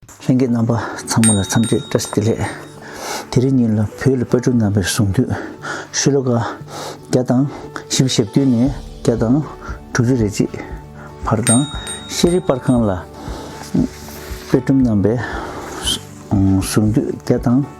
ལྷན་རྒྱས་རྣམ་པ་ཚང་མ་ལ་འཚམས་འདྲི་བཀྲ་བསྟི་ལེགས། དེ་རིང་ཉིན་ལ་བོད་ལ་དཔལ་སྤྲུལ་རྣམ་པའི་གསུང་དུས་ཤུ་ལོ་ཀ་བརྒྱ་དང་བཞི་བཅུ་ཞེ་བདུན་ནས་བརྒྱ་དང་དྲུག་ཅུ་རེ་གཅིག་བར་དང་ཤེས་རིག་དཔར་ཁང་ལ་དཔལ་སྤྲུལ་རྣམ་པའི་གསུང་དུས་བརྒྱ་དང།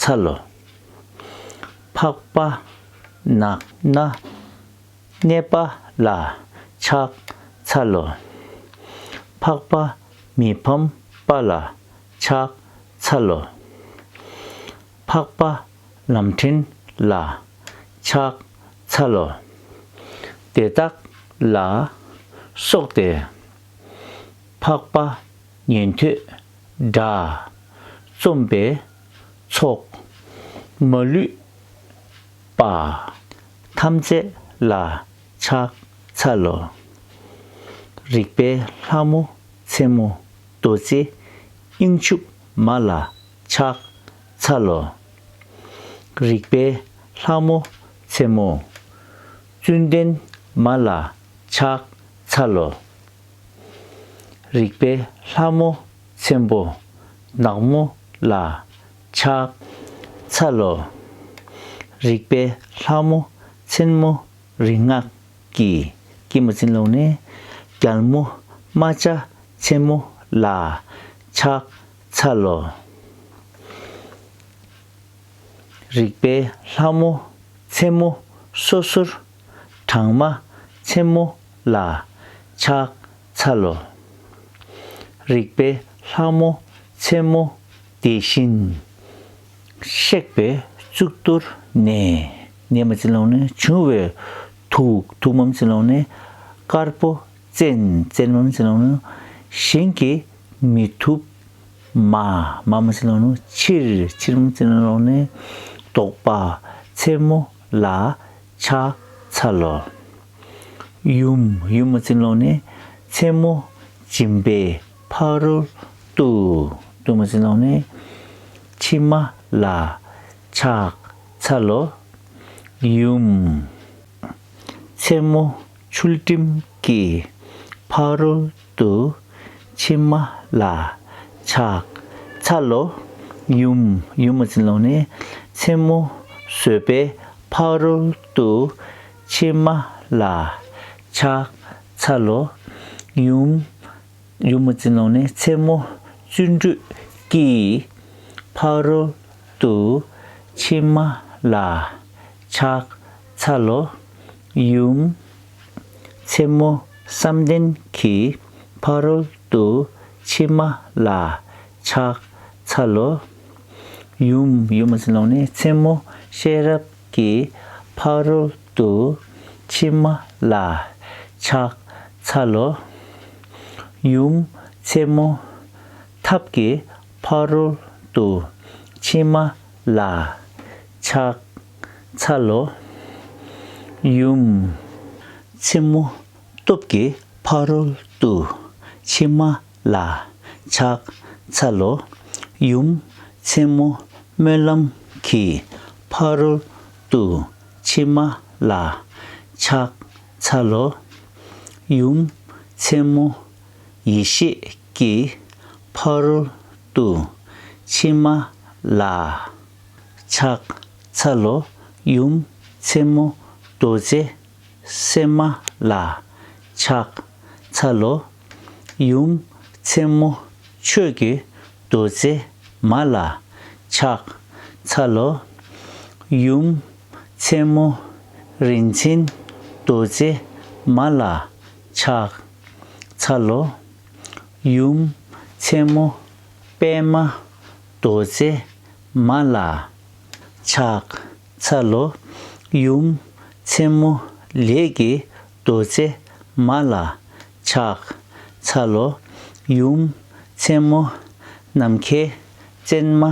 ཚ་ལོ། འཕགས་པ། ནགས་ན། གནས་པ་ལ། ཕྱག་འཚལ་ལོ། འཕགས་པ། མི་ཕམ་པ་ལ། ཕྱག་འཚལ་ལོ། འཕགས་པ། ལམ་ཕྲན་ལ། ཕྱག་འཚལ་ལོ། དེ་དག་ལ། སོགས་ཏེ། འཕགས་པ། ཉན་ཐོས་སྒྲ། རྩོམ་པའི་ཚོགས། མ་ལུས་པ། ཐམས་ཅད་ལ་ཕྱག་འཚལ་ལོ། རིག་པའི་ལྷ་མོ་མཚན་མོ་རྡོ་རྗེ་དབྱིངས་ཕྱུག་མ་ལ་ཕྱག་འཚལ་ལོ། རིག་པའི་ལྷ་མོ་མཚན་མོ་བཙུན་ལྡན་མ་ལ་ཕྱག་འཚལ་ལོ། རིག་པའི་ལྷ་མོ་ཆེན་པོ་ནག་མོ་ལ་ཕྱག་འཚལ་ལོ། རིག་པའི་ལྷ་མོ་ཆེན་མོ་རིག་སྔགས་ཀྱི་སྐྱིལ་མོ་ཅན་ལུང་ནས་རྒྱལ་མོ་རྨ་བྱ་ཆེན་མོ་ལ་ཕྱག་འཚལ་ལོ། རིག་པའི་ལྷ་མོ་ཆེན་མོ་སོ་སོར་གྲངས་མ། མཚན་མོ་ལ། ཕྱག། འཚལ་ལོ། རིག་པའི་ལྷ་མོ། མཚན་མོ། དེ་བཞིན། གཤེགས་པའི་གཙུག་ཏོར་ནས། ནས་མ་ཚིག་ལོང་ནས་བྱུང་བའི་ཐུགས། ཐུགས་མ་ཚིག་ལོང་ནས། དཀར་པོ། བཙན། བཙན་མ་ཚིག་ལོང་ནས། བཞིན་གྱིས། མི་ཐུབ། མ། མ་མ་ཚིག་ལོང་ནས། ཕྱིར། ཕྱིར་མ་ཚིག་ལོང་ནས། ལྡོག་པ། མཚན་མོ། ལ། ཕྱག་འཚལ་ལོ། ཡུམ། ཡུམ་མོ་ཚིག་ལོང་ནི། མཚན་མོ་སྦྱིན་པའི་ཕ་རོལ་ཏུ། ཏུ་མོ་ཚིག་ལོང་ནི། ཕྱི་མ་ལ། ཕྱག་འཚལ་ལོ། ཡུམ། མཚན་མོ་ཆུལ་སྤྲིན་གྱི་ཕ་རོལ། དུ། ཕྱི་མ་ལ། ཆག། ཚ་ལོ། ཡུམ། ཡུམ་མོ་ཚིག་ལོངས་ནས། མཚན་མོ། སོས་པའི། ཕག་རོལ་དུ། ཕྱི་མ་ལ། ཆག། ཚ་ལོ། ཡུམ། ཡུམ་མོ་ཚིག་ལོངས་ནས་མཚན་མོ། བརྩོན་འགྲུས། ཀྱིས། ཕག་རོལ་དུ། ཕྱི་མ་ལ། ཆག། ཚ་ལོ། ཡུམ། མཚན་མོ་བསམ་གཏན་གྱི་ཕ་རོལ་ཏུ་ཕྱིན་མ་ལ་ཕྱག་འཚལ་ལོ། ཡུམ། ཡུམ་མ་ཟིན་ལོང་ནི་མཚན་མོ་ཤེས་རབ་ཀྱི་ཕ་རོལ་ཏུ་ཕྱིན་མ་ལ་ཕྱག་འཚལ་ལོ། ཡུམ། མཚན་མོ་ཐབས་ཀྱི་ཕ་རོལ་ཏུ་ཕྱིན་མ་ལ་ཕྱག་འཚལ་ལོ། ཡུམ། མཚན་མོ། སྟོབས་ཀྱི་ཕ་རོལ་ཏུ་ཕྱིན་མ་ལ་ཕྱག་འཚལ་ལོ། ཡུམ། མཚན་མོ། སྨོན་ལམ་གྱི་ཕ་རོལ་ཏུ་ཕྱིན་མ་ལ་ཕྱག་འཚལ་ལོ། ཡུམ། མཚན་མོ། ཡེ་ཤེས་ཀྱི་ཕ་རོལ་ཏུ་ཕྱིན་མ་ལ། ཕྱག་འཚལ་ལོ། ཡུམ་མཚན་མོ་རྡོ་རྗེ་སེམས་མ་ལ། ཕྱག་འཚལ་ལོ། ཡུམ་མཚན་མོ་ཆོས་ཀྱི་རྡོ་རྗེ་མ་ལ། ཕྱག་འཚལ་ལོ། ཡུམ་མཚན་མོ་རིན་ཆེན་རྡོ་རྗེ་མ་ལ། ཕྱག་འཚལ་ལོ། ཡུམ་མཚན་མོ་པདྨ་རྡོ་རྗེ་མ་ལ། ཕྱག་འཚལ་ལོ། ཡུམ་ཆེན་མོ་ལས་ཀྱི་རྡོ་རྗེ་མ་ལ། ཕྱག་འཚལ་ལོ། ཡུམ་ཆེན་མོ་ནམ་མཁའི་སྤྱན་མ་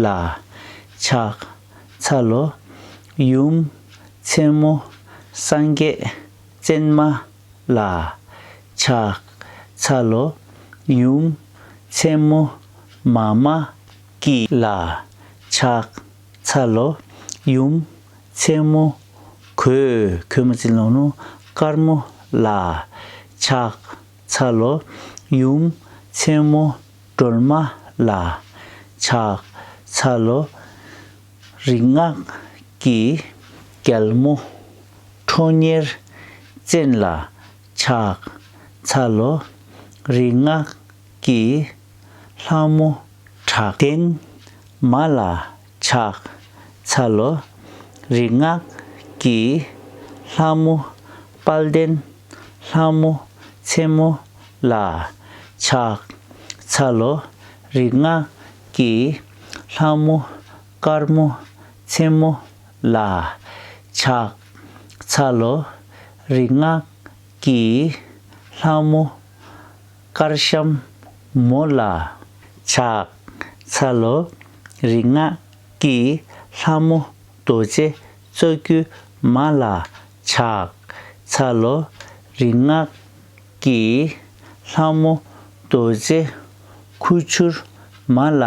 ལ། ཕྱག་འཚལ་ལོ། ཡུམ་ཆེན་མོ་སངས་རྒྱས་སྤྱན་མ་ལ། ཆགས། ཚ་ལོ། ཡུམ། མཚན་མོ། མ་མ། ཀི། ལ། ཆགས། ཚ་ལོ། ཡུམ། མཚན་མོ། གོས། ཁོལ་མོ་རྩིས་ལོང་ནོ། དཀར་མོ། ལ། ཆགས། ཚ་ལོ། ཡུམ། མཚན་མོ། སྒྲོལ་མ། ལ། ཆགས། ཚ་ལོ། རིག་སྔགས་ཀྱི་རྒྱལ་མོ་ཁྲོ་གཉེར་བཙན་ལ་ཕྱག་འཚལ་ལོ། རིག་སྔགས་ཀྱི་ལྷ་མོ་དྲག་ལྡན་མ་ལ་ཕྱག་འཚལ་ལོ། རིག་སྔགས་ཀྱི་ལྷ་མོ་དཔལ་ལྡན་ལྷ་མོ་མཚན་མོ་ལ་ཕྱག་འཚལ་ལོ། རིག་སྔགས་ཀྱི་ལྷ་མོ། དཀར་མོ། མཚན་མོ། ལ། ཕྱག། ཚ་ལོ། རིག་སྔགས། ཀྱི། ལྷ་མོ། དཀར་ཤམ། མོ། ལ། ཕྱག། ཚ་ལོ། རིག་སྔགས། ཀྱི། ལྷ་མོ། རྡོ་རྗེ། རྩ་རྒྱུད། མ། ལ། ཕྱག། ཚ་ལོ། རིག་སྔགས། ཀྱིས་ལྷ་མོ་རྡོ་རྗེ་ཁུ་བྱུར་མ་ལ་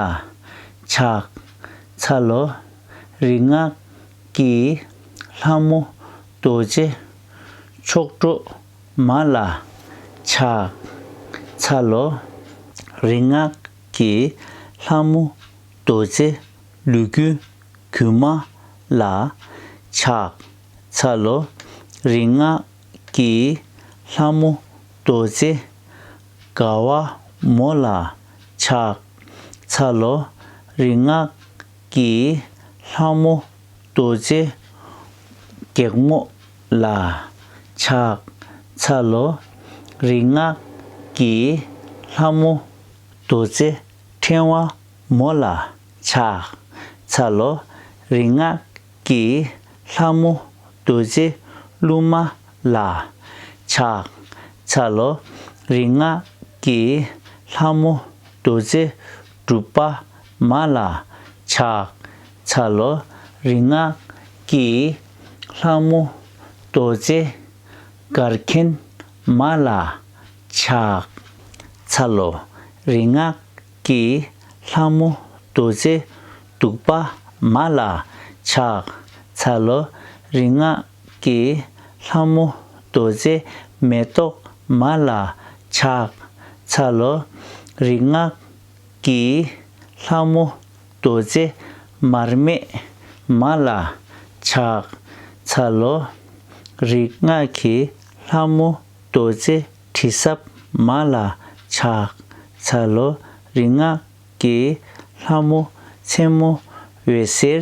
ཕྱག་འཚལ་ལོ། རིག་སྔགས་ཀྱིས་ལྷ་མོ་རྡོ་རྗེ་མཆོག་སྤྲོ་མ་ལ་ཕྱག་འཚལ་ལོ། རིག་སྔགས་ཀྱིས་ལྷ་མོ་རྡོ་རྗེ་ལུས་ཀུན་གུ་མ་ལ་ཕྱག་འཚལ་ལོ། རིག་སྔགས་ཀྱི་ལྷ་མོ་རྡོ་རྗེ་དགའ་བ་མོ་ལ་ཕྱག་འཚལ་ལོ། རིག་སྔགས་ཀྱི་ལྷ་མོ་རྡོ་རྗེ་སྒེག་མོ་ལ་ཕྱག་འཚལ་ལོ། རིག་སྔགས་ཀྱི་ལྷ་མོ་རྡོ་རྗེ་ཕྲེང་བ་མོ་ལ་ཕྱག་འཚལ་ལོ། རིག་སྔགས་ཀྱི་ལྷ་མོ་བདུད་རྩི་བླུགས་མ་ལ། ཕྱག་འཚལ་ལོ། རིག་སྔགས་ཀྱི་ལྷ་མོ་བདུད་རྩི་བསྒྲུབ་པ་མ་ལ། ཕྱག་འཚལ་ལོ། རིག་སྔགས་ཀྱི་ལྷ་མོ་རྡོ་རྗེ་གར་མཁན་མ་ལ། ཕྱག་འཚལ་ལོ། རིག་སྔགས་ཀྱི་ལྷ་མོ་བདུད་རྩི་བདུག་པ་མ་ལ་ཕྱག་འཚལ་ལོ། རིག་སྔགས་ཀྱི་ལྷ་མོ་བདུད་རྩི་མེ་ཏོག་མ་ལ་ཕྱག་འཚལ་ལོ། རིག་སྔགས་ཀྱི་ལྷ་མོ་བདུད་རྩི་མར་མེ་མ་ལ་ཕྱག་འཚལ་ལོ། རིག་སྔགས་ཀྱི་ལྷ་མོ་རྡོ་རྗེ་དྲི་ཟབ་མ་ལ་ཕྱག་འཚལ་ལོ། རིག་སྔགས་ཀྱི་ལྷ་མོ་མཚན་མོ་འོད་ཟེར་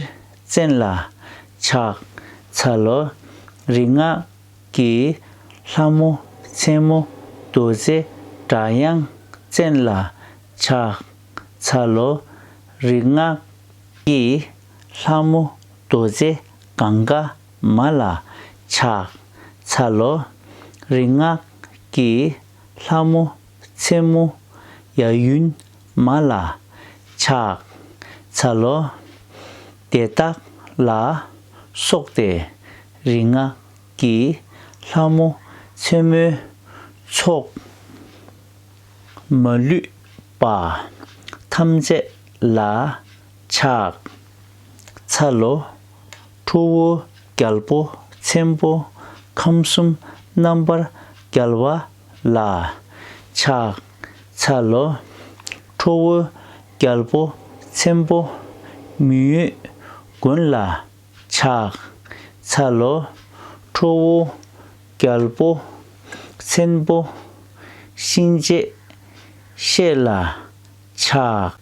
ཅན་ལ་ཕྱག་འཚལ་ལོ། རིག་སྔགས་ཀྱི་ལྷ་མོ་མཚན་མོ་རྡོ་རྗེ་སྒྲ་དབྱངས་ཅན་ལ་ཕྱག་འཚལ་ལོ། རིག་སྔགས་ཀྱི་ལྷ་མོ་རྡོ་རྗེ་གངྒཱ། མ་ལ་ཕྱག་འཚལ་ལོ། རིག་སྔགས་ཀྱི་ལྷ་མོ་མཚན་མོ་ཡ་ཡུན་མ་ལ་ཕྱག་འཚལ་ལོ། དེ་དག་ལ་སོགས་ཏེ་རིག་སྔགས་ཀྱི་ལྷ་མོ་མཚན་མོའི་ཚོགས། མ་ལུས་པ་ཐམས་ཅད་ལ་ཕྱག། ཚ་ལོ། ཁྲོ་བོ་རྒྱལ་པོ་ཆེན་པོ་ཁམས་གསུམ་རྣམ་པར་རྒྱལ་བ་ལ། ཕྱག། ཚ་ལོ། ཁྲོ་བོ་རྒྱལ་པོ་ཆེན་པོ་མི་ཡུལ་མགོན་ལ། ཕྱག། ཚ་ལོ། ཁྲོ་བོ་རྒྱལ་པོ་ཆེན་པོ་གཤིན་རྗེ་གཤེད་ལ། ཕྱག།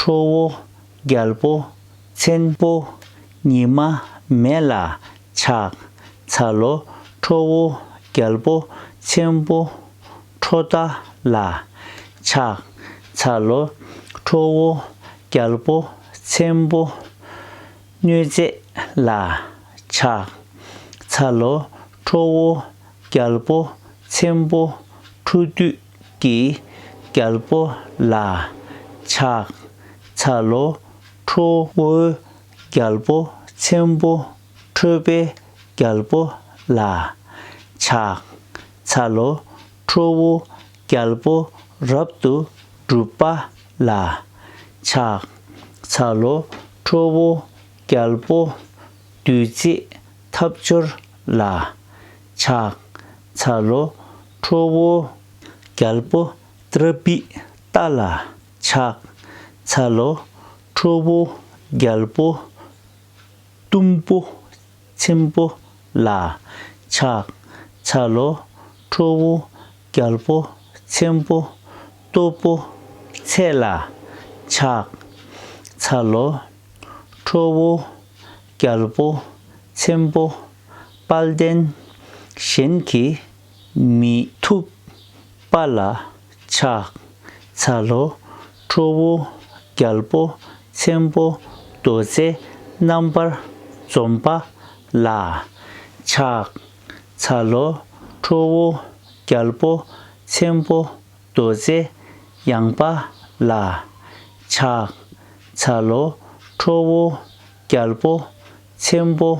ཁྲོ་བོ་རྒྱལ་པོ་ཆེན་པོ་ཉི་མ་མེ་ལ་ཕྱག་འཚལ་ལོ། ཁྲོ་བོ་རྒྱལ་པོ་ཆེན་པོ་ཁྲོ་རྟ་ལ་ཕྱག་འཚལ་ལོ། ཁྲོ་བོ་རྒྱལ་པོ་ཆེན་པོ་གནོད་མཛེས་ལ་ཕྱག་འཚལ་ལོ། ཁྲོ་བོ་རྒྱལ་པོ་ཆེན་པོ་ཁྲོ་བདུད་ཀྱི་རྒྱལ་པོ་ལ་ཕྱག་འཚལ་ལོ། ཁྲོ་བོའི་རྒྱལ་པོ་ཆེན་པོ་ཁྲོས་པའི་རྒྱལ་པོ་ལ་ཕྱག་འཚལ་ལོ། ཁྲོ་བོའི་རྒྱལ་པོ་རབ་ཏུ་སྒྲུབ་པ་ལ་ཕྱག་འཚལ་ལོ། ཁྲོ་བོའི་རྒྱལ་པོ་བདུད་རྩི་འཐབ་སྦྱོར་ལ་ཕྱག་འཚལ་ལོ། ཁྲོ་བོ་རྒྱལ་པོ་ཏྲ་པིཏྟ་ལ་ཕྱག་འཚལ་ལོ། ཁྲོ་བོ་རྒྱལ་པོ་གཏུམ་པོ་ཆེན་པོ་ལ་ཕྱག་འཚལ་ལོ། ཁྲོ་བོ་རྒྱལ་པོ་ཆེན་པོ་སྟོབས་པོ་ཆེ་ལ་ཕྱག་འཚལ་ལོ། ཁྲོ་བོ་རྒྱལ་པོ་ཆེན་པོ་དཔལ་ལྡན་གཞན་གྱི་མི་ཐུབ་པ་ལ་ཕྱག་འཚལ་ལོ། ཁྲོ་བོ་རྒྱལ་པོ་ཆེན་པོ་རྡོ་རྗེ་རྣམ་པར་འཇོམས་པ་ལ་ཕྱག་འཚལ་ལོ། ཁྲོ་བོ་རྒྱལ་པོ་ཆེན་པོ་རྡོ་རྗེ་ཡངས་པ་ལ་ཕྱག་འཚལ་ལོ། ཁྲོ་བོ་རྒྱལ་པོ་ཆེན་པོ་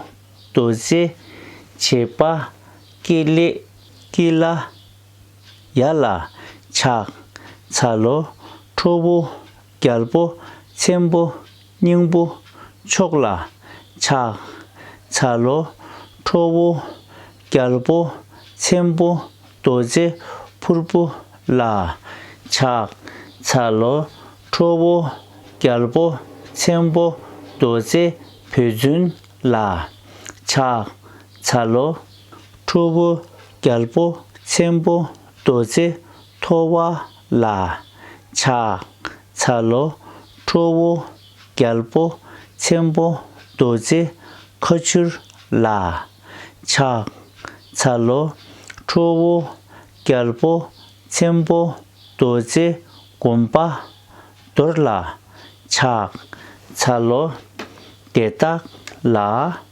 རྡོ་རྗེ་བྱེད་པ། ཀེ་ལེ། ཀི་ལ། ཡ་ལ། ཆག། ཚ་ལོ། ཁྲོ་བོ། རྒྱལ་པོ། ཚེམ་བུ། སྙིང་པོ། མཆོག་ལ། ཆག། ཚ་ལོ། ཁྲོ་བོ། རྒྱལ་པོ། ཚེམ་བུ། རྡོ་རྗེ། ཕུར་བུ། ལ། ཆག། ཚ་ལོ། ཁྲོ་བོ། རྒྱལ་པོ། ཚེམ་བུ། རྡོ་རྗེ། བུ་རྫུན། ལ། ཆག། ཚ་ལོ། ཁྲོ་བོ། རྒྱལ་པོ། ཆེན་པོ། རྡོ་རྗེ། ཐོ་བ། ལ། ཆགས། ཚ་ལོ། ཁྲོ་བོ། རྒྱལ་པོ། ཆེན་པོ། རྡོ་རྗེ། ཁ་ཆུར། ལ། ཆགས། ཚ་ལོ། ཁྲོ་བོ། རྒྱལ་པོ། ཆེན་པོ། རྡོ་རྗེ། བསྒོམ་པ། རྡོར་ལ། ཆགས། ཚ་ལོ། དེ་དག་ལ།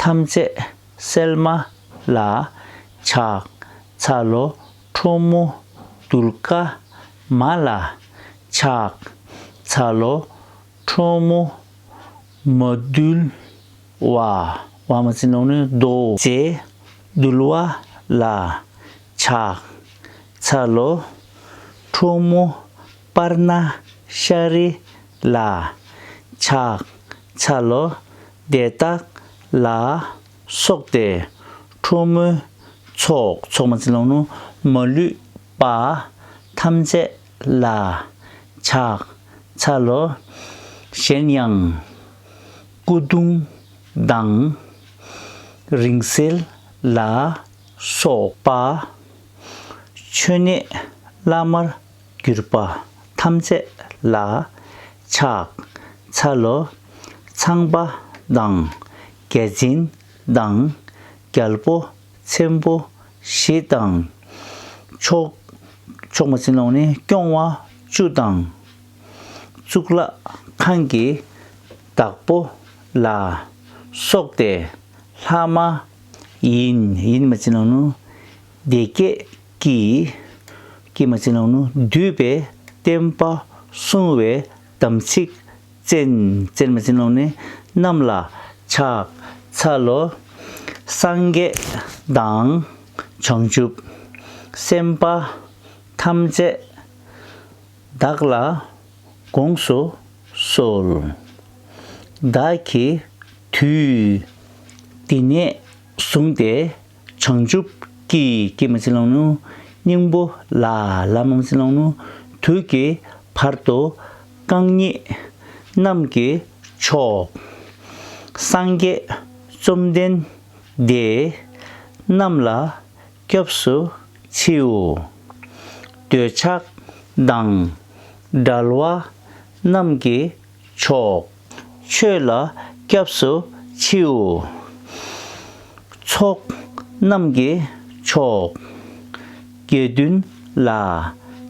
ཐམས་ཅད་སེལ་མ་ལ། ཕྱག་འཚལ་ལོ་ཁྲོ་མོ་གདུལ་དཀའ་མ་ལ། ཕྱག་འཚལ་ལོ་ཁྲོ་མོ་མ་གདུལ་བ། བ་མ་ཅི་ནོ་ནི་རྡོ་རྗེ་གདུལ་བ་ལ། ཕྱག་འཚལ་ལོ་ཁྲོ་མོ་པར་ན་ཤ་རི་ལ། ཕྱག་འཚལ་ལོ། དེ་བརྟགས་ལ། སོགས་ཏེ། ཁྲོ་མོའི་ཚོགས། ཚོགས་མ་ཚིག་ལོང་ནོ། མ་ལུས་པ། ཐམས་ཅད་ལ། ཕྱག་འཚལ་ལོ། གཞན་ཡང། སྐུ་གདུང་དང། རིང་བསྲེལ་ལ། སོགས་པ། མཆོད་གནས་བླ་མར་གྱུར་པ་ཐམས་ཅད་ལ་ཕྱག་འཚལ་ལོ། ཚངས་པ་དང་རྒྱལ་མཚན་དང་རྒྱལ་པོ་ཆེན་པོ་བཞི་དང། མཆོག། མཆོག་མ་ཅིན་ལོང་ནི་སྐྱོང་བ་བཅུ་དང། གཙུག་ལག་ཁང་གི་བདག་པོ་ལ་སོགས་ཏེ་ལྷ་མ་ཡིན། ཡིན་མ་ཅིན་ལོང་ནི་བདེ་བསྐྱེད་ཀྱིས། ཀྱེ་མ་ཅི་ནང་ནུས་བསྡུས་པའི་བསྟན་པ་སྲུང་བའི་དམ་ཚིག་བཙན། བཙན་མ་ཅི་ནང་ནི་རྣམས་ལ་ཕྱག་འཚལ་ལོ། སངས་རྒྱས་དང་བྱང་ཆུབ་སེམས་དཔའ་ཐམས་ཅད་བདག་ལ་དགོངས་སུ་གསོལ། བདག་གིས་དུས་འདི་ནས་བཟུང་སྟེ། བྱང་ཆུབ་ཀྱི་ཀྱེ་མ་ཚིག་ལོང་ནུ། སྙིང་པོ་ལ་ལ་མང་ཚིག་ལོང་ནུ། དུས་ཀྱི་བར་དུ་རྐང་གཉིས། གནམ་གྱི་ཕྱོགས། སངས་རྒྱས་བཅོམ་ལྡན་འདས། རྣམས་ལ་སྐྱབས་སུ་མཆིའོ། འདོད་ཆགས་དང། དགྲ་བླ་རྣམས་ཀྱི་ཕྱོགས། ཆོས་ལ་སྐྱབས་སུ་མཆིའོ། ཚོགས་རྣམས་ཀྱི་མཆོག། དགེ་འདུན་ལ་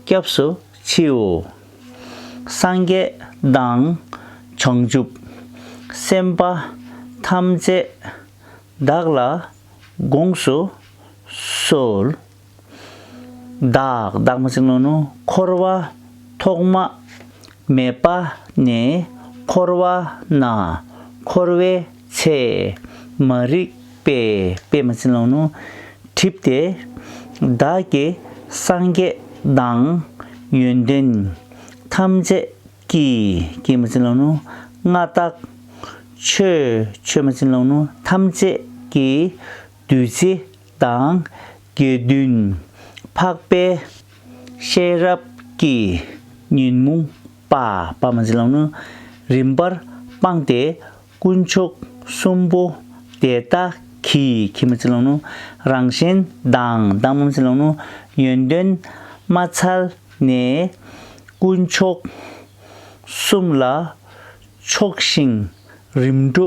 སྐྱབས་སུ་མཆིའོ། སངས་རྒྱས་དང་བྱང་ཆུབ་སེམས་དཔའ་ཐམས་ཅད་བདག་ལ་དགོངས་སུ་གསོལ། བདག་བདག་མ་སྲིང་ནོ་ནོ་འཁོར་བ་ཐོག་མ་མེད་པ་ནས་འཁོར་བ་ན་འཁོར་བའི་ཚད་མ་རིག་པས་པད་མ་སྲིང་ལོ་ནོ་བྲིབས་ཏེ། བདག་གི་སངས་རྒྱས་དང་ཡོན་ཏན་ཐམས་ཅད་ཀྱིས་ཀྱི་མ་སྲིང་ལོ་ནོ་མངའ་བདག། ཆོས་ཆོས་མ་སྲིང་ལོ་ནོ་ཐམས་ཅད་ཀྱིས་བདུད་རྩི་དང། དགེ་འདུན་འཕགས་པའི་ཤེས་རབ་ཀྱི་ཉོན་མོངས་པ་པདྨ་འཛིན་ལམ་ནི་རིམ་པར་སྤངས་ཏེ་དཀོན་མཆོག་གསུམ་པོ་དེ་དག་གིས་ཁྱིམ་པ་འཛིན་ལམ་ནི་རང་གཞན་དང་བདག་མམ་འཛིན་ལམ་ནི་ཡོན་ཏན་མ་ཚལ་ནས་དཀོན་མཆོག་གསུམ་ལ་ཕྱོགས་ཤིང་རིམ་གྲོ་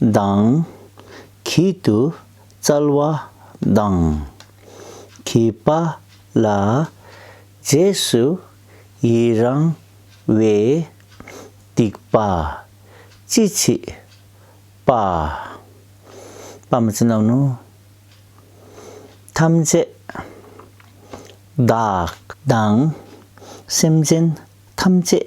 གདངས། གིས་དུ་སྩལ་བ་གདངས། གི་པ་ལ། རྗེས་སུ་ཡི་རང་བའི། སྡིག་པ། ཅི་མཆིས། པ། པ་མ་ཅི་རྣམས་ནོ། ཐམས་ཅད། བདག། གདངས། སེམས་ཅན་ཐམས་ཅད།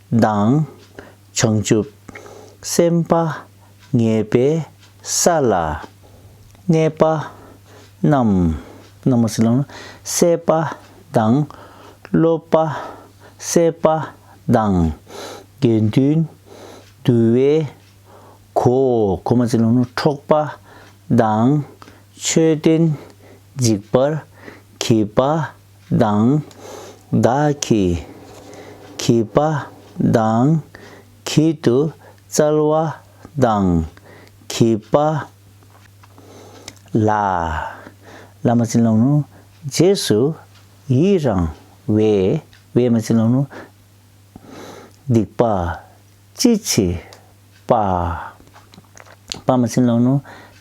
མདངས། བྱང་ཆུབ་སེམས་དཔའ་ངེས་པའི་ས་ལ་གནས་པ་རྣམས། སད་པ་དང། སློབ་པ་སད་པ་དང། དགེ་འདུན་འདུ་བའི་གོ། འཕྲོག་པ་དང། མཆོད་རྟེན་འཇིག་པར་གྱིས་པ། དང། བདག་གིས་གི་པ་དང། གི་དུ་སྩལ་བ་དང། གི་པ་ལ། ལ་མ་བྱིན་རློབ་ནུ། རྗེས་སུ་ཡི་རང་བའི། བའི་མ་བྱིན་རློབ་ནུ། སྡིག་པ་ཅི་མཆིས་པ། པ་མ་བྱིན་རློབ་ནུ།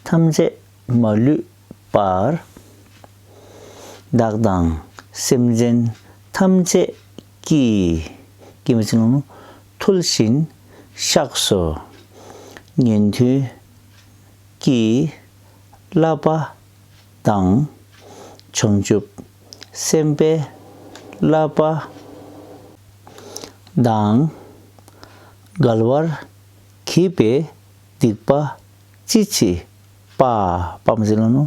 ཐམས་ཅད་མ་ལུས། པར། བདག་དང་སེམས་ཅན་ཐམས་ཅད་ཀྱི། ཐུལ་བཞིན་གཤེགས་སུ་ཉན་ཐོས་ཀྱི། བསླབ་པ་དང་བྱང་ཆུབ་སེམས་དཔའི་བསླབ་པ། དང་འགལ་བར་གྱིས་པའི་སྡིག་པ་ཅི་མཆིས་པདྨ་འཛིན་ལོ་ནོ་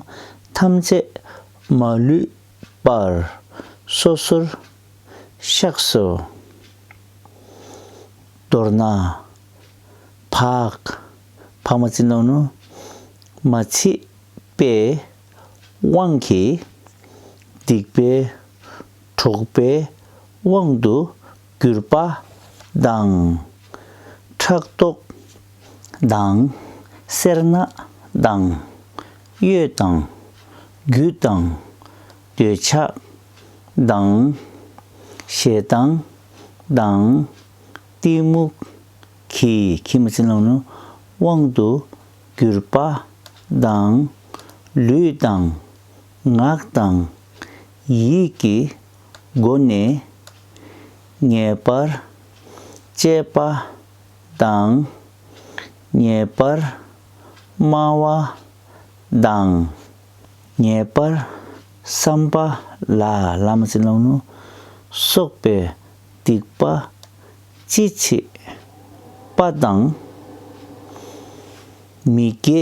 ཐམས་ཅད་མ་ལུས་པར་སོ་སོར་གཤེགས་སོ། མདོར་ན། པདྨ་འཛིན་ལོ་ནོ་མ་མཆིས་པའི་དབང་གིས་སྡིག་པའི་གྲོགས་པའི་དབང་དུ་གུར་པ་དང། ཕྲག་དོག་དང། སེར་སྣ་དང། གཡོ་དང། རྒྱུ་དང། འདོད་ཆགས་དང། ཞེ་སྡང་དང། གཏི་མུག་གི་ཁྱིམ་བྱིན་རླབས་ནི་དབང་དུ་གུར་པ་དང། ལུས་དང། ངག་དང། ཡིད་ཀྱི་སྒོ་ནས་ངེས་པར་སྤྱད་པ་དང། ངེས་པར་སྨྲ་བ་དང། ངེས་པར་བསམ་པ་ལ། སོགས་པའི་སྡིག་པ་ཅི་མཆིས་པ་དང། མི་དགེ་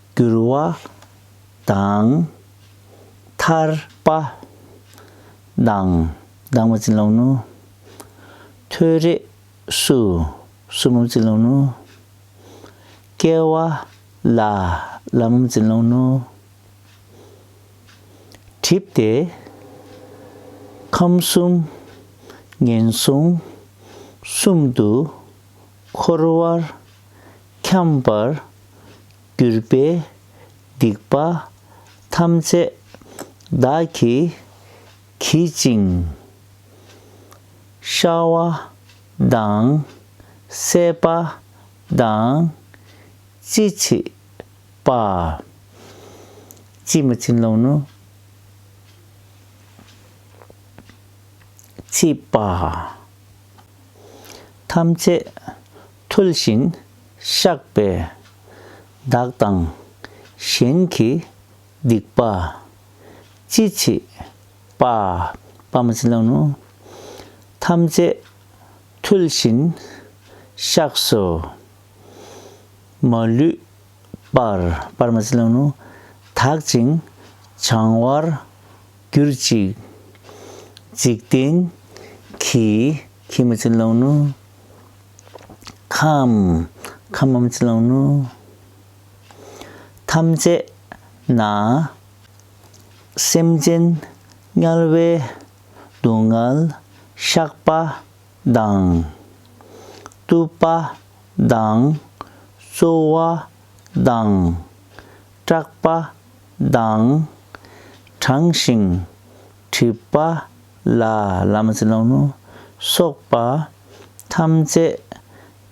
བསྒྱུར་བ་དང། ཐར་པ་དང། དྭངས་མ་རྩི་ལོང་ནུ། ཐོད་རེག་སུ། སུ་མོ་རྩི་ལོང་ནུ། སྐལ་བ་ལ། ལ་མོམ་རྩི་ལོང་ནུ། གྲིབ་སྟེ། ཁམས་གསུམ། ངན་སོང་གསུམ་དུ། འཁོར་བར་འཁྱམས་པར་གྱུར་པའི་སྡིག་པ་ཐམས་ཅད་བདག་གིས་གྱིས་ཅིང། ཤྭ་བ་དང་སྲེད་པ་དང་ཅི་མཆིས་པ། ཅིས་མ་བྱིན་རློབ་ནུས། མཆིས་པ། ཐམས་ཅད་ཐུལ་ཞིང་བཤགས་པས། བདག་དང་གཞན་གྱི་སྡིག་པ་ཅི་མཆིས་པ། ཐམས་ཅད་ཐུལ་ཞིང་བཤགས་སོ། མ་ལུས་པར་པར་མ་ཅིག་ལང་ནུ་དག་ཅིང་བྱང་བར་གྱུར་ཅིག། འཇིག་རྟེན་གྱི་གྱི་མ་ཅིག་ལང་ནུ། ཁམས་ཁམས་མ་མ་ཅིག་ལང་ནུ། ཐམས་ཅད་ན་སེམས་ཅན་དམྱལ་བའི་སྡུག་བསྔལ་བཤགས་པ་དང། བཏུབ་པ་དང། བཙོ་བ་དང། སྐྲག་པ་དང། གྲང་ཞིང་དྲིས་པ་ལ། བླ་མ་ཚེ་ལོང་ནོ། སོགས་པ་ཐམས་ཅད་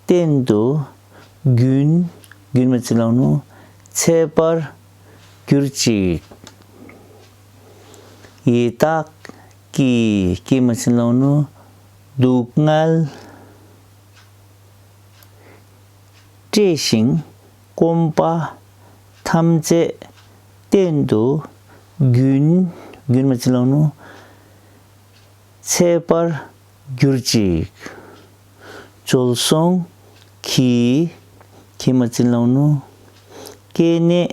བསྟན་དུ་རྒྱུན། རྒྱུན་མི་ཚེ་ལོང་ནོ། འཚལ་བར་གྱུར་ཅིག། ཡི་དྭགས། ཀྱི་སྐྱེས་མ་ཕྱིན་ལོང་ནོ། སྡུག་བསྔལ་སྤྲས་ཤིང་སྐོམ་པ་ཐམས་ཅད་གཏན་དུ་རྒྱུན། རྒྱུན་མ་ཕྱིན་ལོང་ནོ། འཚེད་པར་གྱུར་ཅིག། འཇོལ་སོང་གི་སྐྱེས་མ་ཕྱིན་ལོང་ནོ། སྐྱེས་གནས་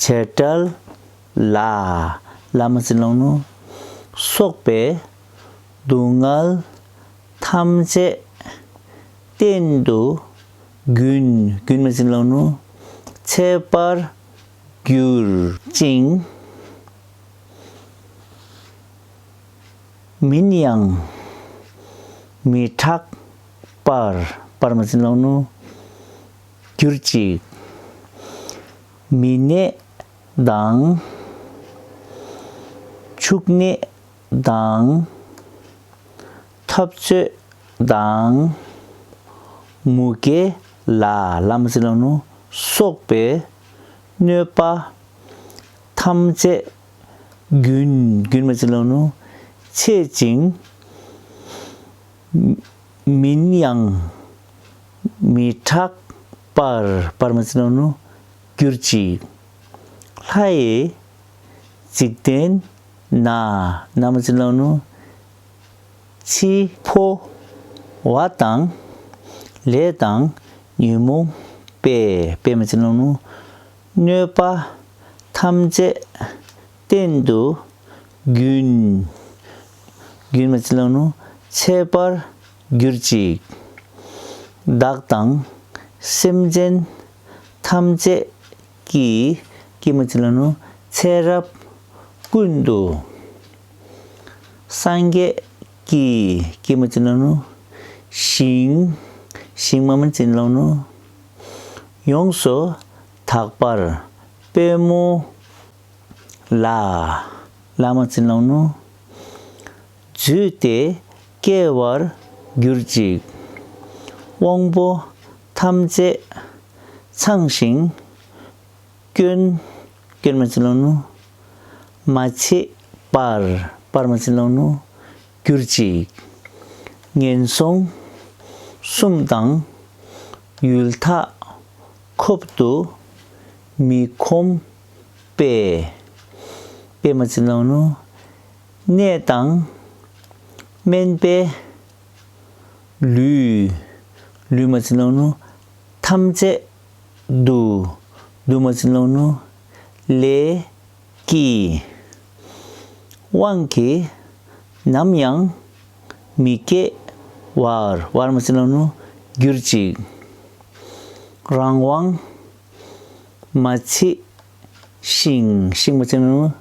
བྱེ་བྲལ་ལ། བླ་མ་ཚེ་ལོང་ནོར་སོགས་པའི། སྡུག་བསྔལ་ཐམས་ཅད་གཏན་དུ་གྱུར། རྒྱུན་མེད་ཚེ་ལོང་ནོར་ཚལ་པར་གྱུར། ཅིང། མིན་ཡང་མི་གྲགས་པར། པར་མ་ཚེ་ལོང་ནོར། གྱུར་ཅིག། མི་ནད་དང། འཕྱུགས་ནད་དང། འཐབ་རྩོད་དང། མུ་གེ་ལ། སོགས་པའི་གནོད་པ་ཐམས་ཅད་རྒྱུན། ཆད་ཅིང། མིན་ཡང། མི་དྲག་པར་པར་མི་ཚིག་ནོ། གྱུར་ཅིག། ལྷའི། འཇིག་རྟེན། ན། ན་མི་ཚིག་ནོ། འཆི། འཕོ། བ་དང། ལས་དང། ཉོན་མོངས། པས་པས་མི་ཚིག་ནོ། གནོད་པ། ཐམས་ཅད། གཏན་དུ། རྒྱུན། རྒྱུན་མི་ཚིག་ནོ། ཆད་པར། གྱུར་ཅིག། བདག་དང་སེམས་ཅན་ཐམས་ཅད་ཀྱི། ཀྱེ་མ་ཅི་ལ་ནུས་ཚེ་རབས་ཀུན་ཏུ། སངས་རྒྱས་ཀྱི་ཀྱེ་མ་ཅི་ལ་ནུས་ཞིང། ཞིང་མ་མ་ཅི་ལ་ནུས་ཡོངས་སུ་དག་པར་སྤེལ། མོ་ལ་ལ་མ་ཅི་ལ་ནུས། བརྫུས་ཏེ་སྐྱེ་བར་གྱུར་ཅིག། དབང་པོ་ཐམས་ཅད་ཚངས་ཤིང་སྐྱོན། སྐྱོན་མ་བྱིན་རློབ་ནུ། མ་བྱེད་པར་པར་མ་བྱིན་རློབ་ནུ། གྱུར་ཅིག། ངན་སོང་གསུམ་དང། ཡུལ་ཐ་འཁོབ་ཏུ་མི་ཁོམ་པས། པས་མ་བྱིན་རློབ་ནུ། ནད་དང། སྨན་པས། ལུས། ལུས་མ་བྱིན་རློན་ནོ། ཐམས་ཅད། བསྡུ། བསྡུ་མ་བྱིན་རློན་ནོ། ལས། ཀྱི། དབང་གིས། ནམ་ཡང། མི་སྐྱེ། བར། བར་མ་བྱིན་རློན་ནོ། གྱུར་ཅིག། རང་དབང། མ་མཆིས། ཤིང། ཤིང་མོ་ཚེ་ལོང།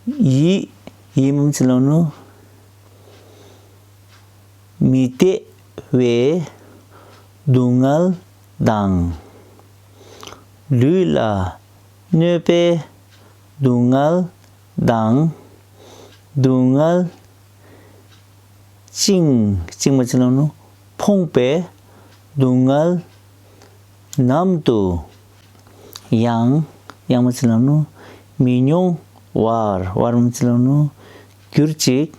ཡིད། ཡིད་མོ་ཚེ་ལོང། མི་བདེ་བའི་སྡུག་བསྔལ་དང། ལུས་ལ་གནོད་པའི་སྡུག་བསྔལ་དང། སྡུག་བསྔལ། བཅིངས། བཅིངས་མོ་ཚེ་ལོང། ཕོངས་པའི་སྡུག་བསྔལ། ནམ་དུ། ཡང། ཡང་མི་ཚེ་ལམ་ནོ། མི་མྱོང། བར། བར་མི་ཚེ་ལམ་ནོ། གྱུར་ཅིག།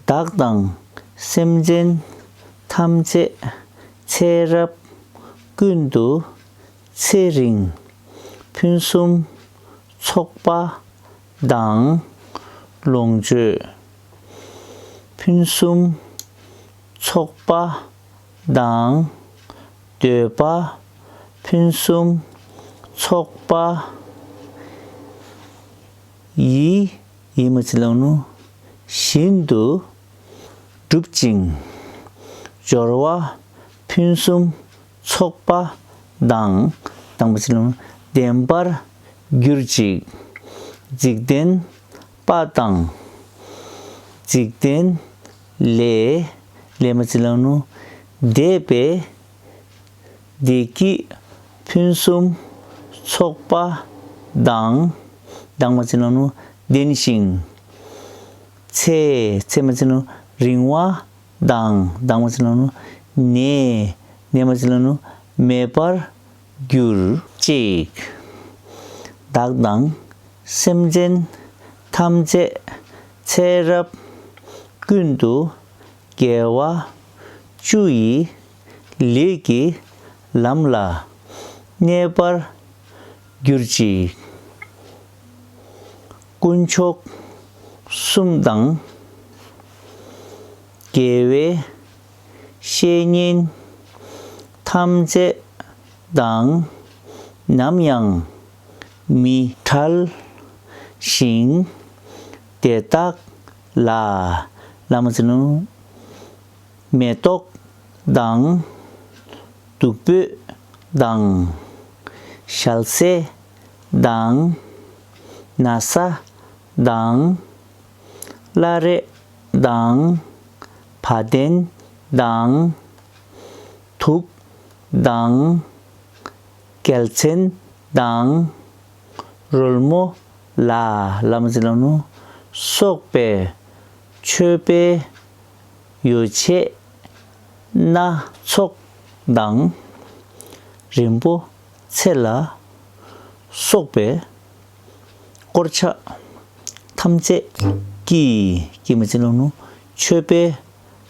བདག་དང། སེམས་ཅན། ཐམས་ཅད། ཚེ་རབས། ཀུན་ཏུ། ཚེ་རིང། ཕུན་སུམ། ཚོགས་པ། དང། ལོངས་སྤྱོད། ཕུན་སུམ། ཚོགས་པ། དང། འདོད་པ། ཕུན་སུམ། ཚོགས་པ། ཡི། ཡི་མུ་ཚི་ལང་ནུ། བཞིན་དུ། བསྒྲུབ་ཅིང། སྦྱོར་བ། ཕུན་སུམ། ཚོགས་པ། དང། དང་པོ་ཚི་ལང་ནུ། ལྡན་པར། གྱུར་ཅིག། འཇིག་རྟེན། པ་དང། འཇིག་རྟེན། ལས། ལས་མ་ཚིག་ལང་ནུ་བཟླས་པས། བདེ་སྐྱིད་ཕུན་སུམ་ཚོགས་པ་ལྡང། ལྡང་མ་ཚིག་ལང་ནུ་ལྡན་ཞིང། ཚེ། ཚེ་མ་ཚིག་ལང་ནུ་རིང་བ་ལྡང། ལྡང་མ་ཚིག་ལང་ནུ་ནད། ནད་མ་ཚིག་ལང་ནུ་མེད་པར། གྱུར། ཅིག། བདག་དང་སེམས་ཅན་ཐམས་ཅད་ཚེ་རབས་ཀུན་ཏུ་རྒྱལ་བ་བཅུ་ཡི་ལས་ཀྱི་ལམ་ལ་གནས་པར་གྱུར་ཅིག། དཀོན་མཆོག་གསུམ་དང། རྒྱལ་བའི་བཤེས་གཉེན་ཐམས་ཅད་དང་ནམ་ཡང་མི་ཕྲལ་ཞིང། དེ་དག་ལ་བླ་མ་ཟིན། མེ་ཏོག་དང་བདུག་སྤོས་དང། ཞལ་ཟས་དང་ན་བཟའ་དང། བླ་རེ་དང། བ་དན་དང། དུག་དང། གལ་མཚན་དང། རོལ་མོ་ལ། ལ་མི་ཚེ་ལ་ནུ། སོགས་པའི། མཆོད་པའི། ཡོ་བྱད། སྣ་ཚོགས་དང། རིན་པོ་ཆེ་ལ། སོགས་པའི། དཀོར་ཆ་ཐམས་ཅད་ཀྱིས་ཀྱེ་མ་ཅི་ལོག་ནོ། མཆོད་པའི་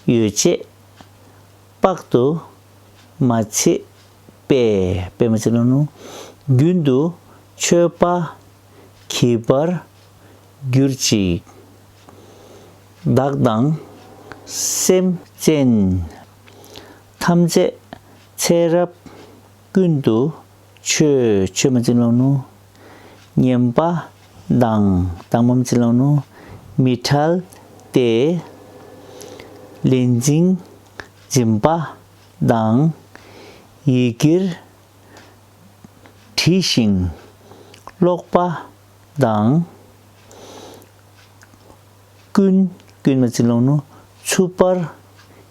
ཡོ་བྱད་དཔག་ཏུ་མ་མཆིས་པས་པད་མ་ཅི་ལོག་ནོ། རྒྱུན་དུ་མཆོད་པ་གྱིས་པར་གྱུར་ཅིག། བདག་དང་སེམས་ཅན་ཐམས་ཅད་ཚེ་རབས་ཀུན་ཏུ་ཆོས་ཆོས་མ་ཚིག་ལོང་ནོ། སྙན་པ་གདངས་གདངས་མམ་ཚིག་ལོང་ནོ། མི་ཕྲལ་ཏེ། ལས་འཛིན་འཛིན་པ་དང། ཡི་གེར་བྲིས་ཤིང་ཀློག་པ་དང། ཀུན་ཀུན་མ་ཚིག་ལོང་ནོ། འཚུབ་པར།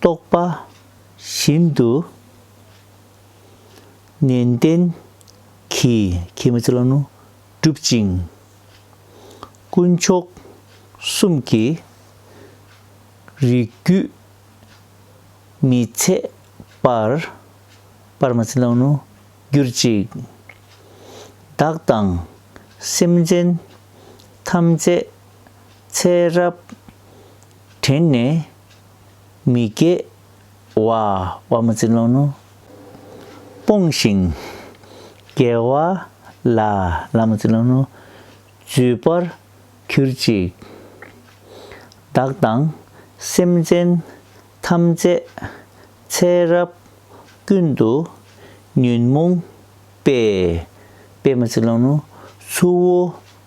རྟོགས་པ་བཞིན་དུ་ནན་ཏན་གྱིས་བསྒྲུབ་ཅིང། དཀོན་མཆོག་གསུམ་གྱི་རིགས་རྒྱུད་མི་ཚད་པར་གྱུར་ཅིག། བདག་དང་སེམས་ཅན་ཐམས་ཅད་ཚེ་རབས་དྲན་ནས་མི་སྐྱེ་བ་དབང་མོ་རྩིས་ལོང་ནོ། སྤོང་ཞིང་སྐྱེ་བ་ལ་ལ་མོ་རྩིས་ལོང་ནོ། བརྫུས་པར་གྱུར་ཅིག། བདག་དང་སེམས་ཅན་ཐམས་ཅད་ཚེ་རབས་ཀུན་ཏུ་ཉོན་མོངས་པས་པས་མོ་རྩིས་ལོང་ནོ། ཆུ་བོ་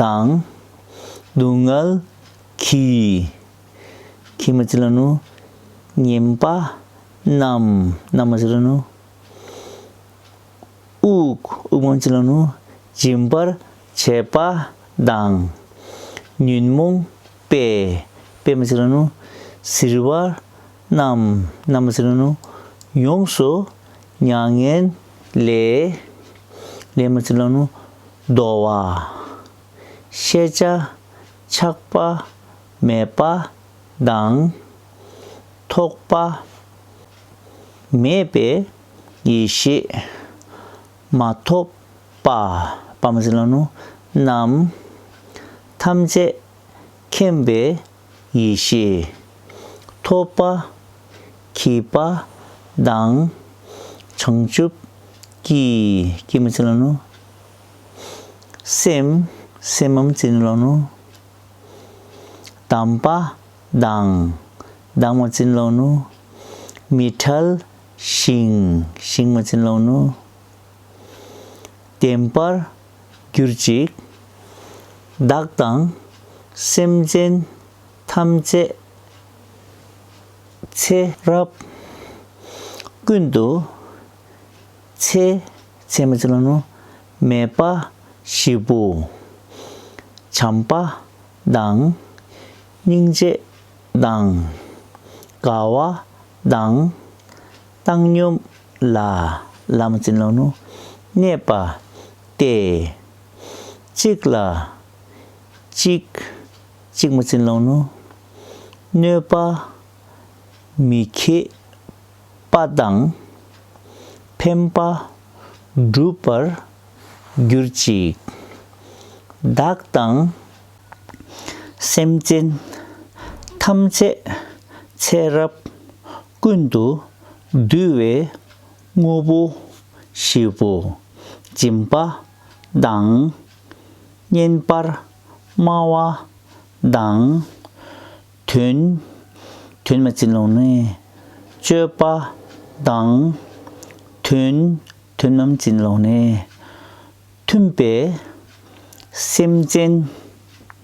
དང། སྡུག་བསྔལ་གྱི། ཁྱི་མ་ཅི་ལ་ནུ། ཉེན་པ་རྣམས། རྣམས་མ་ཅི་ལ་ནུ། དབུགས། དབུགས་མ་ཅི་ལ་ནུ། འབྱིན་པར་བྱེད་པ་དང། ཉོན་མོངས་པའི། པའི་མ་ཅི་ལ་ནུ། གཟིར་བ་རྣམས། རྣམས་མ་ཅི་ལ་ནུ། ཡོངས་སུ་མྱ་ངན་ལས། ལས་མ་ཅི་ལ་ནུ། བདོ་བ། ཤེས་བྱ་ཆགས་པ་མེད་པ་དང། ཐོགས་པ་མེད་པའི་ཡེ་ཤེས་མ་ཐོབ་པ། པདྨ་ཀླ་ཀློ་རྣམས་ཐམས་ཅད་མཁྱེན་པའི་ཡེ་ཤེས། ཐོགས་པ། གྱིས་པ། དང། བྱང་ཆུབ། ཀྱི། ཀྱི་མ་ཅི་ལ་ནོ། སེམས། སེམས་མམ་ཅི་ནི་ལ་ནོ། གདམས་པ། དང། གདམས་མ་ཅི་ནི་ལ་ནོ། མི་ཐལ། ཞིང། ཞིང་མ་ཅི་ནི་ལ་ནོ། བདེན་པར། གྱུར་ཅིག། བདག་དང་སེམས་ཅན་ཐམས་ཅད་ཚེ་རབས་ཀུན་ཏུ། ཚེ་ཚད་མ་ཅི་ལ་ནོར་མེད་དཔའ་བཞི་པོ། བྱམས་པ་དང་སྙིང་རྗེ་དང་དགའ་བ་དང། བཏང་སྙོམས་ལ་བླ་མ་ཙི་ལོ་ནུ་གནས་པ་སྟེ། གཅིག་ལ་གཅིག་གཅིག་མ་ཙི་ལོ་ནུ་གནོད་པ་མི་ཁེགས་པ་དང། ཕན་པ་འགྲུབ་པར་གྱུར་ཅིག། བདག་དང་སེམས་ཅན་ཐམས་ཅད་ཚེ་རབས་ཀུན་ཏུ་བསྡུས་བའི་དངོས་པོ་བཞི་པོ་སྦྱིན་པ་དང། བསྙེན་པར་སྨྲ་བ་དང། དོན། དོན་མ་བྱིན་རློམ་ནི། སྤྱོད་པ་དང། དོན། དོན་མམ་བྱིན་རློམ་ནི། མཐུན་པའི་སེམས་ཅན།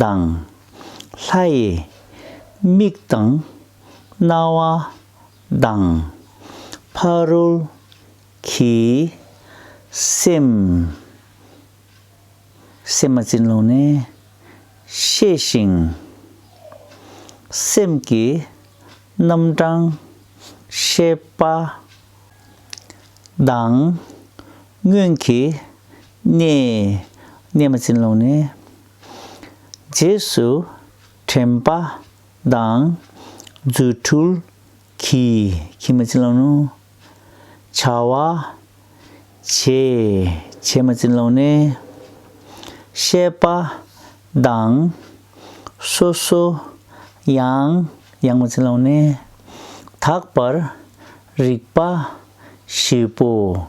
དང། ལྷའི། མིག་དང། རྣ་བ། དང། ཕ་རོལ། གྱི། སེམས། སེམས་མ་བྱིན་རློབ་ནས། ཤེས་ཤིང། སེམས་ཀྱི། རྣམ་གྲངས། ཤེས་པ། དང། སྔོན་གྱི། གནས། གནས་མ་བྱིན་རློབ་ནས། རྗེས་སུ་དྲན་པ་དང་རྫུ་འཕྲུལ་གྱིས་ཁྱིམ་མ་ཅི་ལོག་ནུ། བྱ་བ་བྱེད་བྱེད་མ་ཅི་ལོག་ནི། ཤེས་པ་དང་སོ་སོ་ཡང་ཡང་མ་ཅི་ལོག་ནི། དག་པར་རིག་པ་བཞི་པོ།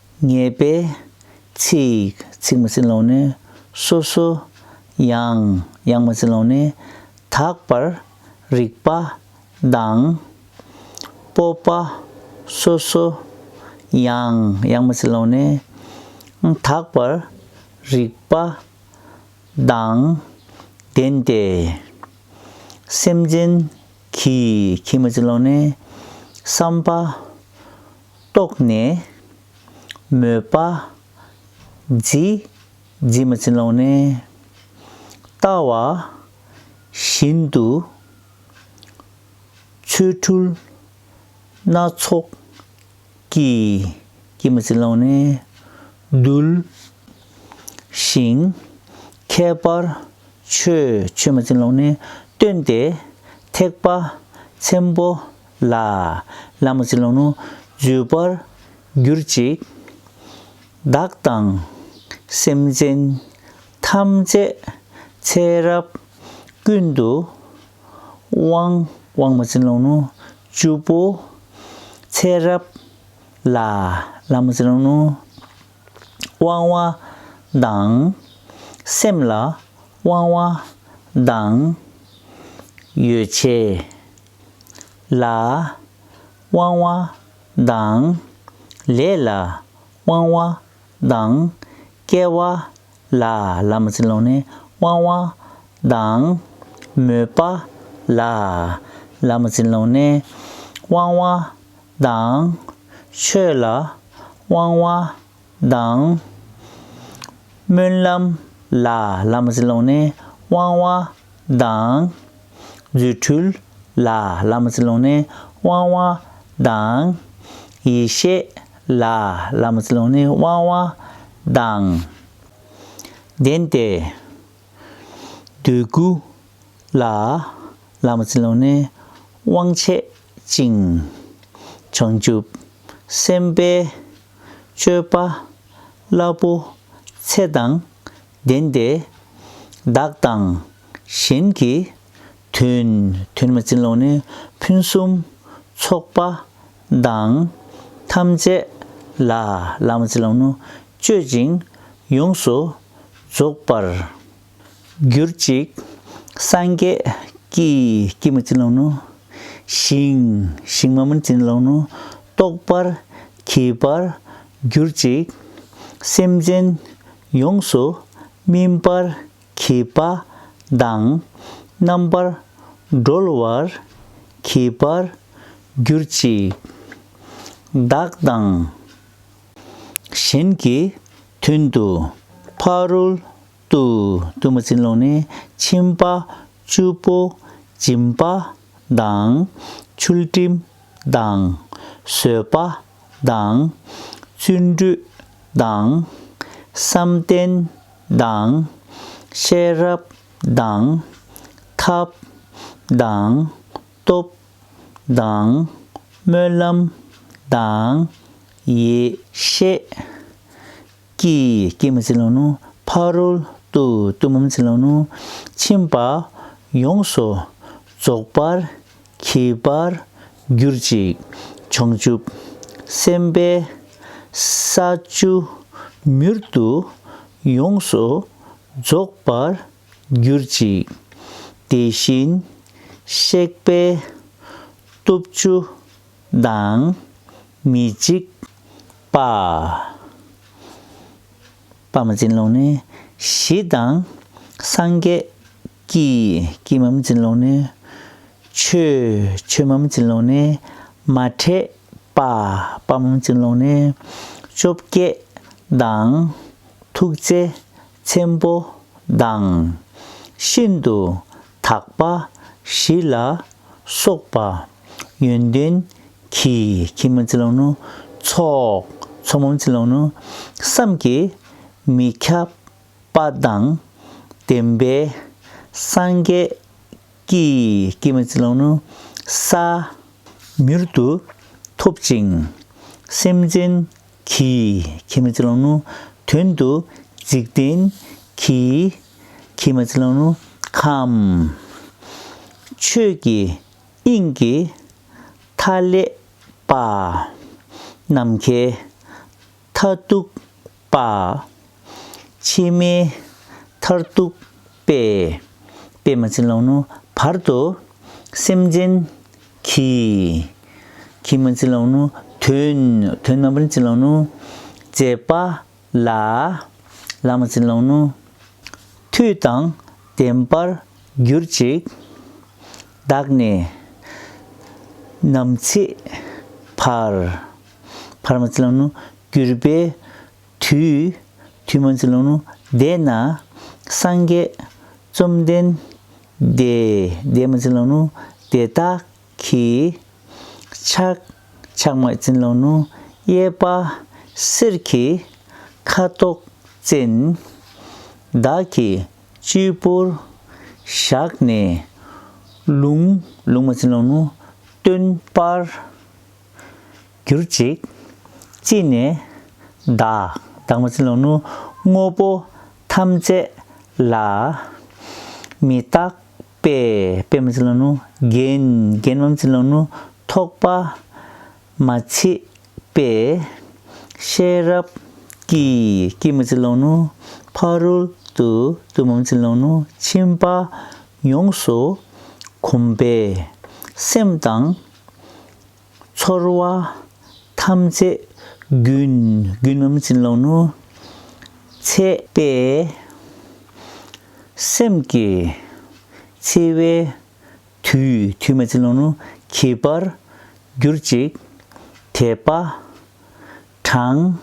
ངེས་པའི་ཚིག། ཚིག་མ་ཟིན་ལོང་ནི་སོ་སོ། དབྱངས། དབྱངས་མ་ཟིན་ལོང་ནི་དག་པར། རིག་པ། གདངས། སྤོབས་པ། སོ་སོ། དབྱངས། དབྱངས་མ་ཟིན་ལོང་ནི། དག་པར། རིག་པ། གདངས། ལྡན་ཏེ། སེམས་ཅན། གྱི། གྱིས་མ་ཟིན་ལོང་ནི། བསམ་པ། རྟོགས་ནས། མོས་པ། བརྫི། བརྫི་མ་བྱིན་ལོང་ནས། ལྟ་བ། བཞིན་དུ། ཆོས་འཕྲུལ། སྣ་ཚོགས། ཀྱིས། ཀྱིས་མ་བྱིན་ལོང་ནས། གདུལ། ཞིང། ཁྱད་པར། ཆོས། ཆོས་མ་བྱིན་ལོང་ནས། སྟོན་ཏེ། ཐེག་པ། ཆེན་པོ། ལ། བླ་མ་ཚེ་ལོང་ནོ། བརྗོད་པར་གྱུར་ཅིག། བདག་དང། སེམས་ཅན། ཐམས་ཅད། ཚེ་རབས། ཀུན་ཏུ། དབང། དབང་མོ་ཚེ་ལོང་ནོ། བཅུ་པོ། ཚེ་རབས། ལ། བླ་མ་ཚེ་ལོང་ནོ། དབང་བ། དང། སེམས་ལ། དབང་བ། དང། ཡོ་བྱད། ལ། དབང་བ་དང། ལས་ལ་དབང་བ་དང། སྐལ་བ་ལ་ལ་མ་ཚིག་ལོག་ནས་དབང་བ་དང། མོས་པ་ལ་ལ་མ་ཚིག་ལོག་ནས་དབང་བ་དང། ཆོས་ལ་དབང་བ་དང། སྨོན་ལམ་ལ་ལམ་བྱིན་རློག་ནས་དབང་བ་དང། རྫུ་འཕྲུལ་ལ་ལམ་བྱིན་རློག་ནས་དབང་བ་དང། ཡེ་ཤེས་ལ་ལམ་བྱིན་རློག་ནས་དབང་བ་དང། ལྡན་ཏེ། འདོད་རྒུ་ལ་ལམ་བྱིན་རློག་ནས་དབང་བྱེད་ཅིང། བྱང་ཆུབ་སེམས་དཔའི་སྤྱོད་པ། བླ་པོ། ཚེ་དང། ལྡན་ཏེ། བདག་དང། གཞན་གྱི། དོན། དོན་མ་ཅིན་ལོག་ནས། ཕུན་སུམ། ཚོགས་པ། དང། ཐམས་ཅད། ལ། ལ་མ་ཅིན་ལོག་ནོ། སྤྱོད་ཅིང། ཡོངས་སུ། རྫོགས་པར། གྱུར་ཅིག། སངས་རྒྱས། ཀྱི། ཀྱི་མུ་ཙི་ལོང་ནོ། ཞིང། ཞིང་མ་མུ་ཙི་ལོང་ནོ། རྟོགས་པར། གྱིས་པར། གྱུར་ཅིག། སེམས་ཅན། ཡོངས་སུ། སྨིན་པར། གྱིས་པ། དང། རྣམ་པར། སྒྲོལ་བར། གྱིས་པར། གྱུར་ཅིག། བདག་དང། གཞན་གྱི། དོན་དུ། ཕ་རོལ། ཏུ། གཏུམ་མོ་བཙན་རླུང་ནི་མཆིན་པ་བཅུ་པོ། འཇིམ་པ་དང། ཆུ་སྤྲིན་དང། བཟོད་པ་དང། བརྩོན་འགྲུས་དང། བསམ་གཏན་དང། ཤེས་རབ་དང། ཐབས་དང། སྟོབས་དང། སྨོན་ལམ་དང། ཡེ་ཤེས། ཀྱི་སྐྱེད་མ་ཚིག་ལོང་ནུ་ཕ་རོལ་ཏུ་གཏུམ་མོའམ་ཚིག་ལོང་ནུ་ཕྱིན་པ། ཡོངས་སུ་རྫོགས་པར་གྱིས་པར་གྱུར་ཅིག། བྱང་ཆུབ་སེམས་དཔའ་ས་བཅུ་མྱུར་དུ་ཡོངས་སུ་རྫོགས་པར་གྱུར་ཅིག། དེ་བཞིན་གཤེགས་པས་སྟོབས་བཅུ་དང། མི་འཇིགས་པ། པདྨ་འཛིན་ལོངས་ནི་བཞི་དང། སངས་རྒྱས་ཀྱི་ཀྱི་འམ་འཛིན་ལོངས་ནི་ཆོས་ཆོས་འམ་འཛིན་ལོངས་ནི་མ་འདྲེས་པ་པདྨ་འམ་འཛིན་ལོངས་ནི་བཅོ་བརྒྱད་དང། ཐུགས་རྗེ་ཆེན་པོ་དང། ཤིན་ཏུ་དག་པ་བཞི་ལ་སོགས་པ། ཡོན་ཏན་གྱི་ཁྱིམ་མ་ཚེ་ལོང་ནོ། ཚོགས་ཚོགས་མམ་ཚེ་ལོང་ནོ། བསམ་གྱིས་མི་ཁྱབ་པ་དང་ལྡན་པའི་སངས་རྒྱས་ཀྱི་སྐྱེད་མ་ཚེ་ལོང་ནོ། ས། མྱུར་དུ་ཐོབ་ཅིང་སེམས་ཅན། གྱིས། ཁྱེད་མ་ཚེ་གླང་ནུ་དོན་དུ་འཇིག་རྟེན་གྱི། ཁྱེད་མ་ཚེ་གླང་ནུ་ཁམས། ཆོས་ཀྱི་དབྱིངས་ཀྱི་མཐའ་ཀླས་པ། ནམ་མཁའི་མཐའ་གཏུགས་པ། ཕྱི་མའི་མཐར་གཏུགས་པས། པདྨ་འཆི་ལོང་ནུབ་བར་དུ། སེམས་ཅན་གྱི། ཁྱི་མོ་འཆི་ལོང་ནུབ། དོན། དོན་རྣམ་པར་འཆི་ལོང་ནུབ། ཅེས་པ། ལ། བླ་མ་འཆི་ལོང་ནུབ། མཐུ་དང་ལྡན་པར་གྱུར་ཅིག། བདག་ནི། ནམ་འཆི་བར། བར་མ་འཆི་ལོང་ནུབ། གྱུར་པའི། དུས་དུས་མ་འཛིན་ལུང་བཟླས་ན་སངས་རྒྱས་བཅོམ་ལྡན་འདས་མ་འཛིན་ལུང་བཟླས་དག་གི། ཆག་ཆག་མ་འཛིན་ལུང་གཡས་པ་གསེར་གྱི་ཁ་དོག་ཅན། བདག་གི་སྤྱི་བོར་བཞག་ནས་ལུང། ལུང་མ་འཛིན་ལུང་སྟོན་པར་གྱུར་ཅིག། ཅི་ནས། བདག། བདག་མ་ཚིམ་ལོང་ནུ། དངོས་པོ། ཐམས། ཅད། ལ། མི། རྟག། པས། པས་མ་ཚིམ་ལོང་ནུ། རྒྱན། རྒྱན་མམ་ཚིམ་ལོང་ནུ། ཐོགས། པ། མ། ཚིག། པས། ཤེས། རབ། ཀྱིས། ཀྱིས་མ་ཚིམ་ལོང་ནུ། ཕ། རོལ། ཏུ། ཏུ་མམ་ཚིམ་ལོང་ནུ། ཕྱིན། པ། ཡོངས། སུ། གོམས། པའི། སེམས། དང། ཚོར་བ་ཐམས་ཅད་རྒུན། རྒུན་འམ་བྱིན་རློག་ནུས། ཚད་པས་སེམས་ཀྱི་འཚེ་བའི་དུས། དུས་མ་བྱིན་རློག་ནུས་གྱིས་པར་གྱུར་ཅིག། དད་པ་གྲངས།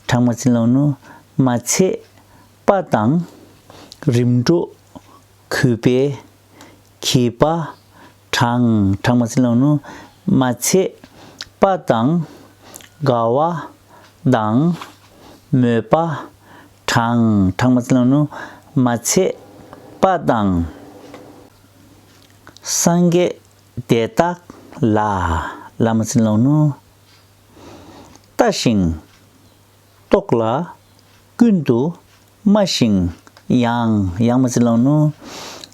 གྲངས་མ་བྱིན་རློག་ནུས་མ་ཚད་པ་དང། རིམ་གྲོ་གུས་པས། གྱིས་པ། གྲངས། གྲངས་མ་ཚིག་ལ་ནུ། མ་ཚད། པ་དང། དགའ་བ། དང། མོས་པ། གྲངས། གྲངས་མ་ཚིག་ལ་ནུ། མ་ཚད། པ་དང། སངས་རྒྱས། དེ་དག། ལ། ལ་མ་ཚིག་ལ་ནུ། ལྟ་ཞིང། རྟོག་ལ། ཀུན་ཏུ། སྨྲ་ཞིང། ཡང་ཡང་མ་ཚིག་ལང་ནུ།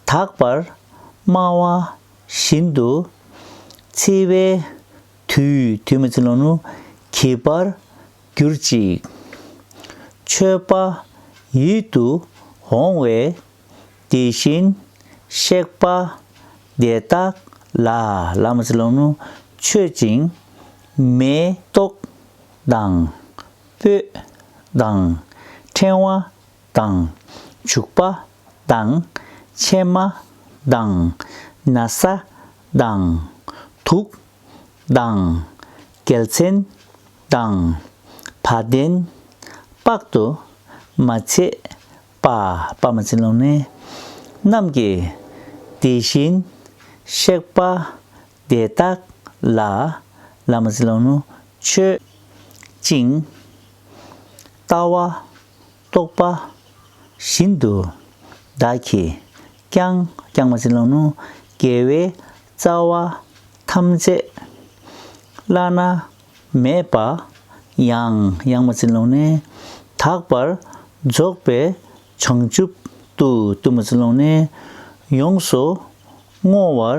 དག་པར་སྨྲ་བ་བཞིན་དུ། འཚིག་པའི་དུས་དུས་མ་ཚིག་ལང་ནུ། གྱིས་པར་གྱུར་ཅིག། མཆོད་པ་ཡིད་དུ་འོང་བས། དེ་བཞིན་གཤེགས་པ་དེ་དག་ལ་ལ་མ་ཚིག་ལང་ནུ། མཆོད་ཅིང་མེ་ཏོག་དང། སྤོས་དང། ཕྲེང་བ་དང། བྱུག་པ་དང། ཕྱེ་མ་དང། ན་བཟའ་དང། དུག་དང། གལ་མཚན་དང། བ་དན། དཔག་ཏུ་མ་མཆིས་པ། པདྨ་འཛིན་ཀློང་ནས། རྣམས་ཀྱིས་དེ་བཞིན་གཤེགས་པ་དེ་དག་ལ་བླ་མ་ཚེ་ལོ་ནུ་མཆོད་ཅིང། ལྟ་བ་རྟོགས་པ་བཞིན་དུ་བདག་གིས་ཀྱང་བསྐྱངས་པ་ཚེ་ལོ་ནུ་རྒྱལ་བའི་རྩ་བ་ཐམས་ཅད་བླ་ན་མེད་པ་ཡང་ཡང་མ་ཚེ་ལོ་ནས་དག་པར་རྫོགས་པའི་བྱང་ཆུབ་ཏུ་བཏུལ་མ་ཚེ་ལོ་ནས་ཡོངས་སུ་བསྔོ་བར་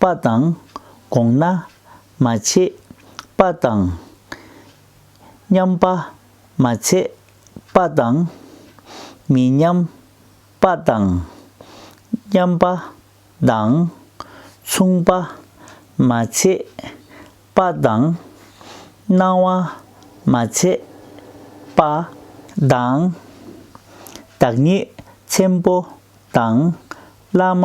པ་དང། དགོངས་ན། མ་བྱས། པ་དང། མཉམ་པ། མ་ཚད། པ་དང། མི་མཉམ། པ་དང། མཉམ་པ། དང། མཚུངས་པ། མ་ཚད། པ་དང། སྣང་བ། མ་ཚད། པ། དང། བདག་ཉིད། ཆེན་པོ། དང། བླ་མ།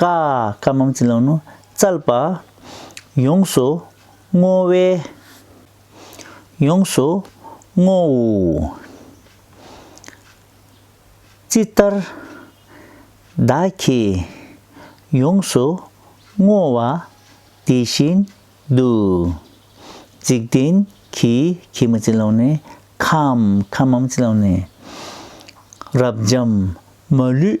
ཀ། ཀ་མང་ཚིག་ལང་ནོ་ཙལ་པ། ཡོངས་སུ་བསྔོ་བས། ཡོངས་སུ་བསྔོ། ཅི་ལྟར། བདག་གིས་ཡོངས་སུ་བསྔོ་བ་དེ་བཞིན་དུ། འཇིག་རྟེན་གྱི་གྱི་མང་ཚིག་ལང་ནི་ཁམས་ཁམས་མང་ཚིག་ལང་ནི། རབ་འབྱམས་མ་ལུས་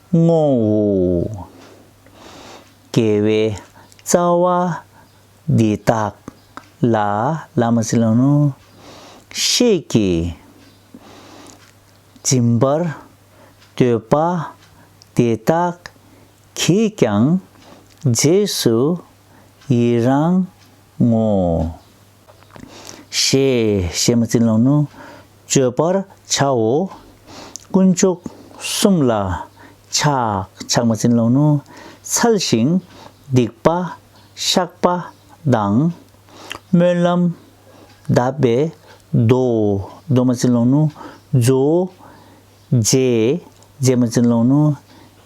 ངོ་བོ། དགེ་བའི་རྩ་བ་འདི་དག་ལ་བླ་མ་སྲིད་ལ་ནོ། ཤེས་ཀྱི་འཛིན་པར་འདོད་པ་དེ་དག་གིས་ཀྱང་རྗེས་སུ་ཡི་རང་ངོ། ཞེས་བཤད་མ་ཚིག་ལོང་ནོ། བཅོས་པར་བྱའོ། དཀོན་མཆོག་གསུམ་ལ་ཆགས་ཆགས་མ་ཚིག་ལོང་ནོ། འཚལ་ཞིང་སྡིག་པ་བཤགས་པ་དང། སྨོན་ལམ་གདབ་པས་རྡོ་རྡོ་མ་ཚིག་ལོང་ནོ། རྫུའོ། རྗེས་རྗེས་མ་ཚིག་ལོང་ནོ།